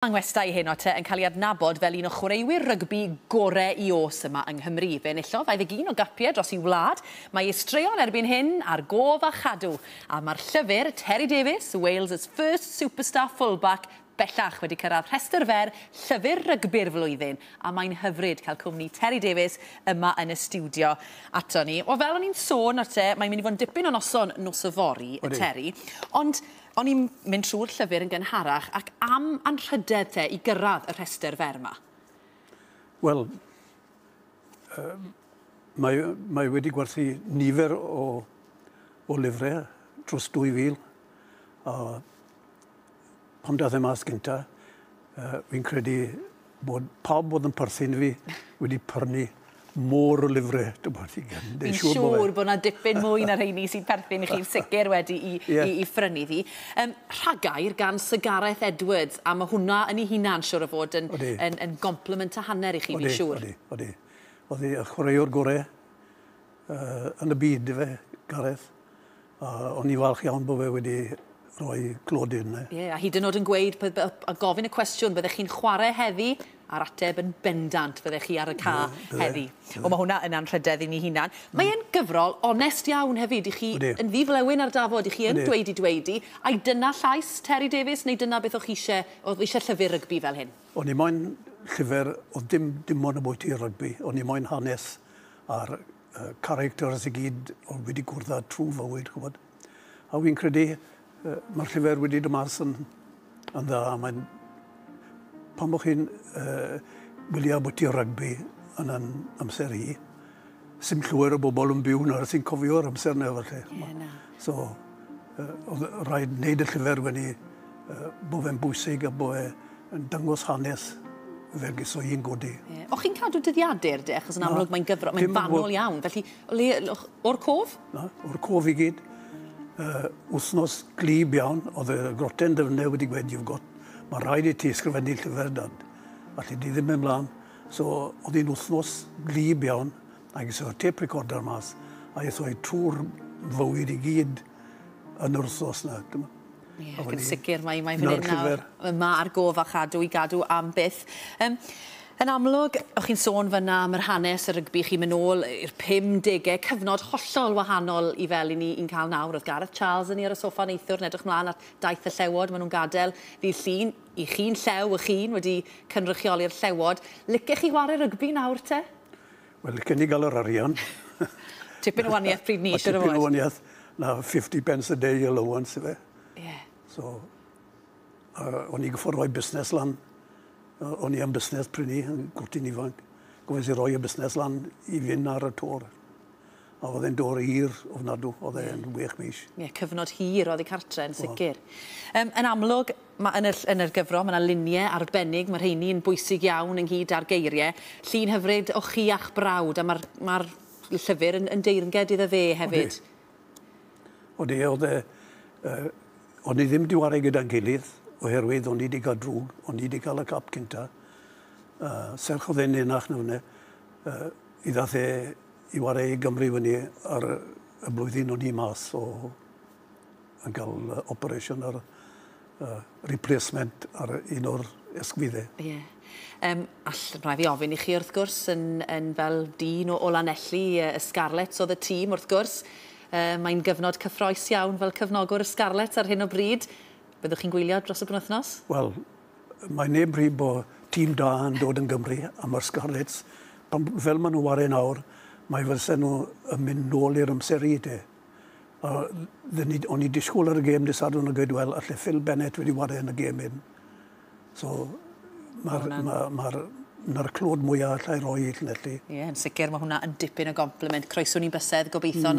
Mae Ngwestai Hen Otter yn cael ei adnabod fel un o chwaraewyr rygbi gorau i oes yma yng Nghymru. Fe enillodd 21 o gapiau dros ei wlad, mae ei straeon erbyn hyn ar gof a chadw, a mae'r llyfr, Terry Davies, Wales's First Superstar Fullback, bellach wedi cyrraedd rhestr fer Llyfr Rygbi'r Flwyddyn, a mae'n hyfryd cael cwmni Terry Davies yma yn y stiwdio ato ni. Wel, fel o'n i'n sôn nawr te, mae'n mynd i fod yn dipyn o noson nos yfory, Terry, ond O'n i'n mynd trwy'r llyfr yn gynharach ac am anrhydedd te i gyrraedd y rhestr fer 'ma? Wel, yym, mae, mae wedi gwerthu nifer o, o lyfrau dros 2,000, a pan daeth e mas gynta, uh, fi'n credu Bod pawb oedd yn perthyn i fi wedi prynu môr o lyfrau, dwi'n bod i gen. Fi'n siŵr bod yna dipyn mwy na rheini sy'n perthyn i chi'n sicr wedi i, yeah. i, i ffrynu ddi. Um, rhagair gan Sir Gareth Edwards, a mae hwnna yn ei hunan siwr o fod yn, odi. yn, yn compliment a hanner i chi, fi'n siŵr. Odi, odi. Oedd y chwaraewr gorau uh, yn y byd, fe, Gareth. Uh, o'n i'n falch iawn bod fe wedi rhoi glod i'r Ie, yeah, a hyd yn oed yn gweud, a gofyn y cwestiwn, byddech chi'n chwarae heddi, a'r ateb yn bendant, byddech chi ar y ca heddi. O, mae hwnna yn anrhydedd i ni hunan. Mm. Mae e'n gyfrol onest iawn hefyd, i chi yn ddiflewyn ar dafod, i chi yn dweud i dweud i, a'i dyna llais Terry Davies, neu dyna beth o'ch chi eisiau, o'ch chi eisiau llyfr rygbi fel hyn? O'n i moyn llyfr, oedd dim, dim ond y bwyty rygbi, o'n i moyn hanes a'r uh, characters i gyd oedd wedi gwrdd â trwy fywyd, chwbod. A fi'n credu, uh, mae'r llyfr wedi dod mas yn, yn dda, mae'n... Pan bod chi'n uh, wylio bod ti rygbi yn yn amser hi, sy'n llwyr o bobl yn byw nawr sy'n cofio'r amser neu falle. Yeah, na. So, oedd rhaid wneud y llyfr wedi bod fe'n bwysig a bod e'n dangos hanes Fergus o un godi. Yeah. O'ch chi'n cadw dyddiadur de, achos yn amlwg mae'n gyfro, mae'n fanol iawn. Felly, le, o'r cof? Na, o'r cof i gyd. Uh, wthnos glib iawn, oedd y groten dyfnau wedi gwed, you've got, mae rhaid i ti ysgrifennu llyfr dad. Allu di ddim ymlaen. So, oedd hi'n wthnos glib iawn. Ac es â'r têp recorder mas a es â'i trwy'r fywyd i gyd yn yr wthnos 'na. Ie, ac yn sicr, mae mae fan hyn nawr, yma ar gof a chadw i gadw am byth. Yym, yn amlwg, o'ch chi'n sôn fanna am yr hanes y rygbi chi'n mynd ôl i'r 50au, cyfnod hollol wahanol i fel i ni i'n cael nawr. Oedd Gareth Charles yn ni ar y soffa neithiwr yn edrych mlaen at daith y Llewod, maen nhw'n gadael ddydd Llun, i chi'n Llew, y chi'n wedi cynrychioli'r Llewod. Licech chi chwarae rygbi nawr te? Wel licen i ga'l yr arian. Tipyn o wanieth pryd ni siŵr o fod. Tipyn o wanieth na fifty pence a day allowance yfe? Ie. So a o'n i goffo roi busnes lan. O- o'n i am busnes pry' 'ny yn gwt i'n ifanc. Gofynes i roi y busnes lan i fyn' ar y to. A oedd e'n dwr hir ofnadw, oedd e yn wych mis. Ie, cyfnod hir oddi cartre yn sicr. Yym, yn amlwg, ma' yn y ll- yn yr gyfrol, ma' 'na lunie arbennig, ma' rheini yn bwysig iawn ynghyd â'r geirie. Llun hyfryd o chi a'ch brawd, a ma'r ma'r llyfyr yn yn deyrnged iddo fe hefyd. Odi. Odi, o'dd e yy o'n ni ddim 'di ware gyda'n gilydd oherwydd o'n i 'di ga'l drwg, o'n i 'di ca'l y cap cynta, a serch o'dd e'n enach na f'ne yy Mi ddaeth e i warae i Gymru fyny ar y blwyddyn o'n i mas o yn cael operation ar uh, replacement ar un o'r esgwyddau. Ie. Yeah. Um, all, rhaid fi ofyn i chi wrth gwrs, yn, yn fel dyn o Olanelli, y Scarlets oedd y tîm wrth gwrs. Uh, Mae'n gyfnod cyffroes iawn fel cyfnogwr y Scarlets ar hyn o bryd. Byddwch chi'n gwylio dros y penwythnos? Wel, Mae neb rhy bo tîm da yn dod yn Gymru am yr Scarlets. Pan, fel maen nhw ware nawr, mae fydsen nhw yn mynd nôl i'r amser i de. A ni, o'n i disgwyl ar y gêm dy Sadwrn a gweud, wel, alle Phil Bennett wedi ware yn y gêm hyn. So, mae'r ma, ma, ma clod mwyaf allai roi i Llanelli. Ie, yn sicr, mae hwnna yn dipyn o gompliment. Croeso ni'n bysedd, gobeithio, mm.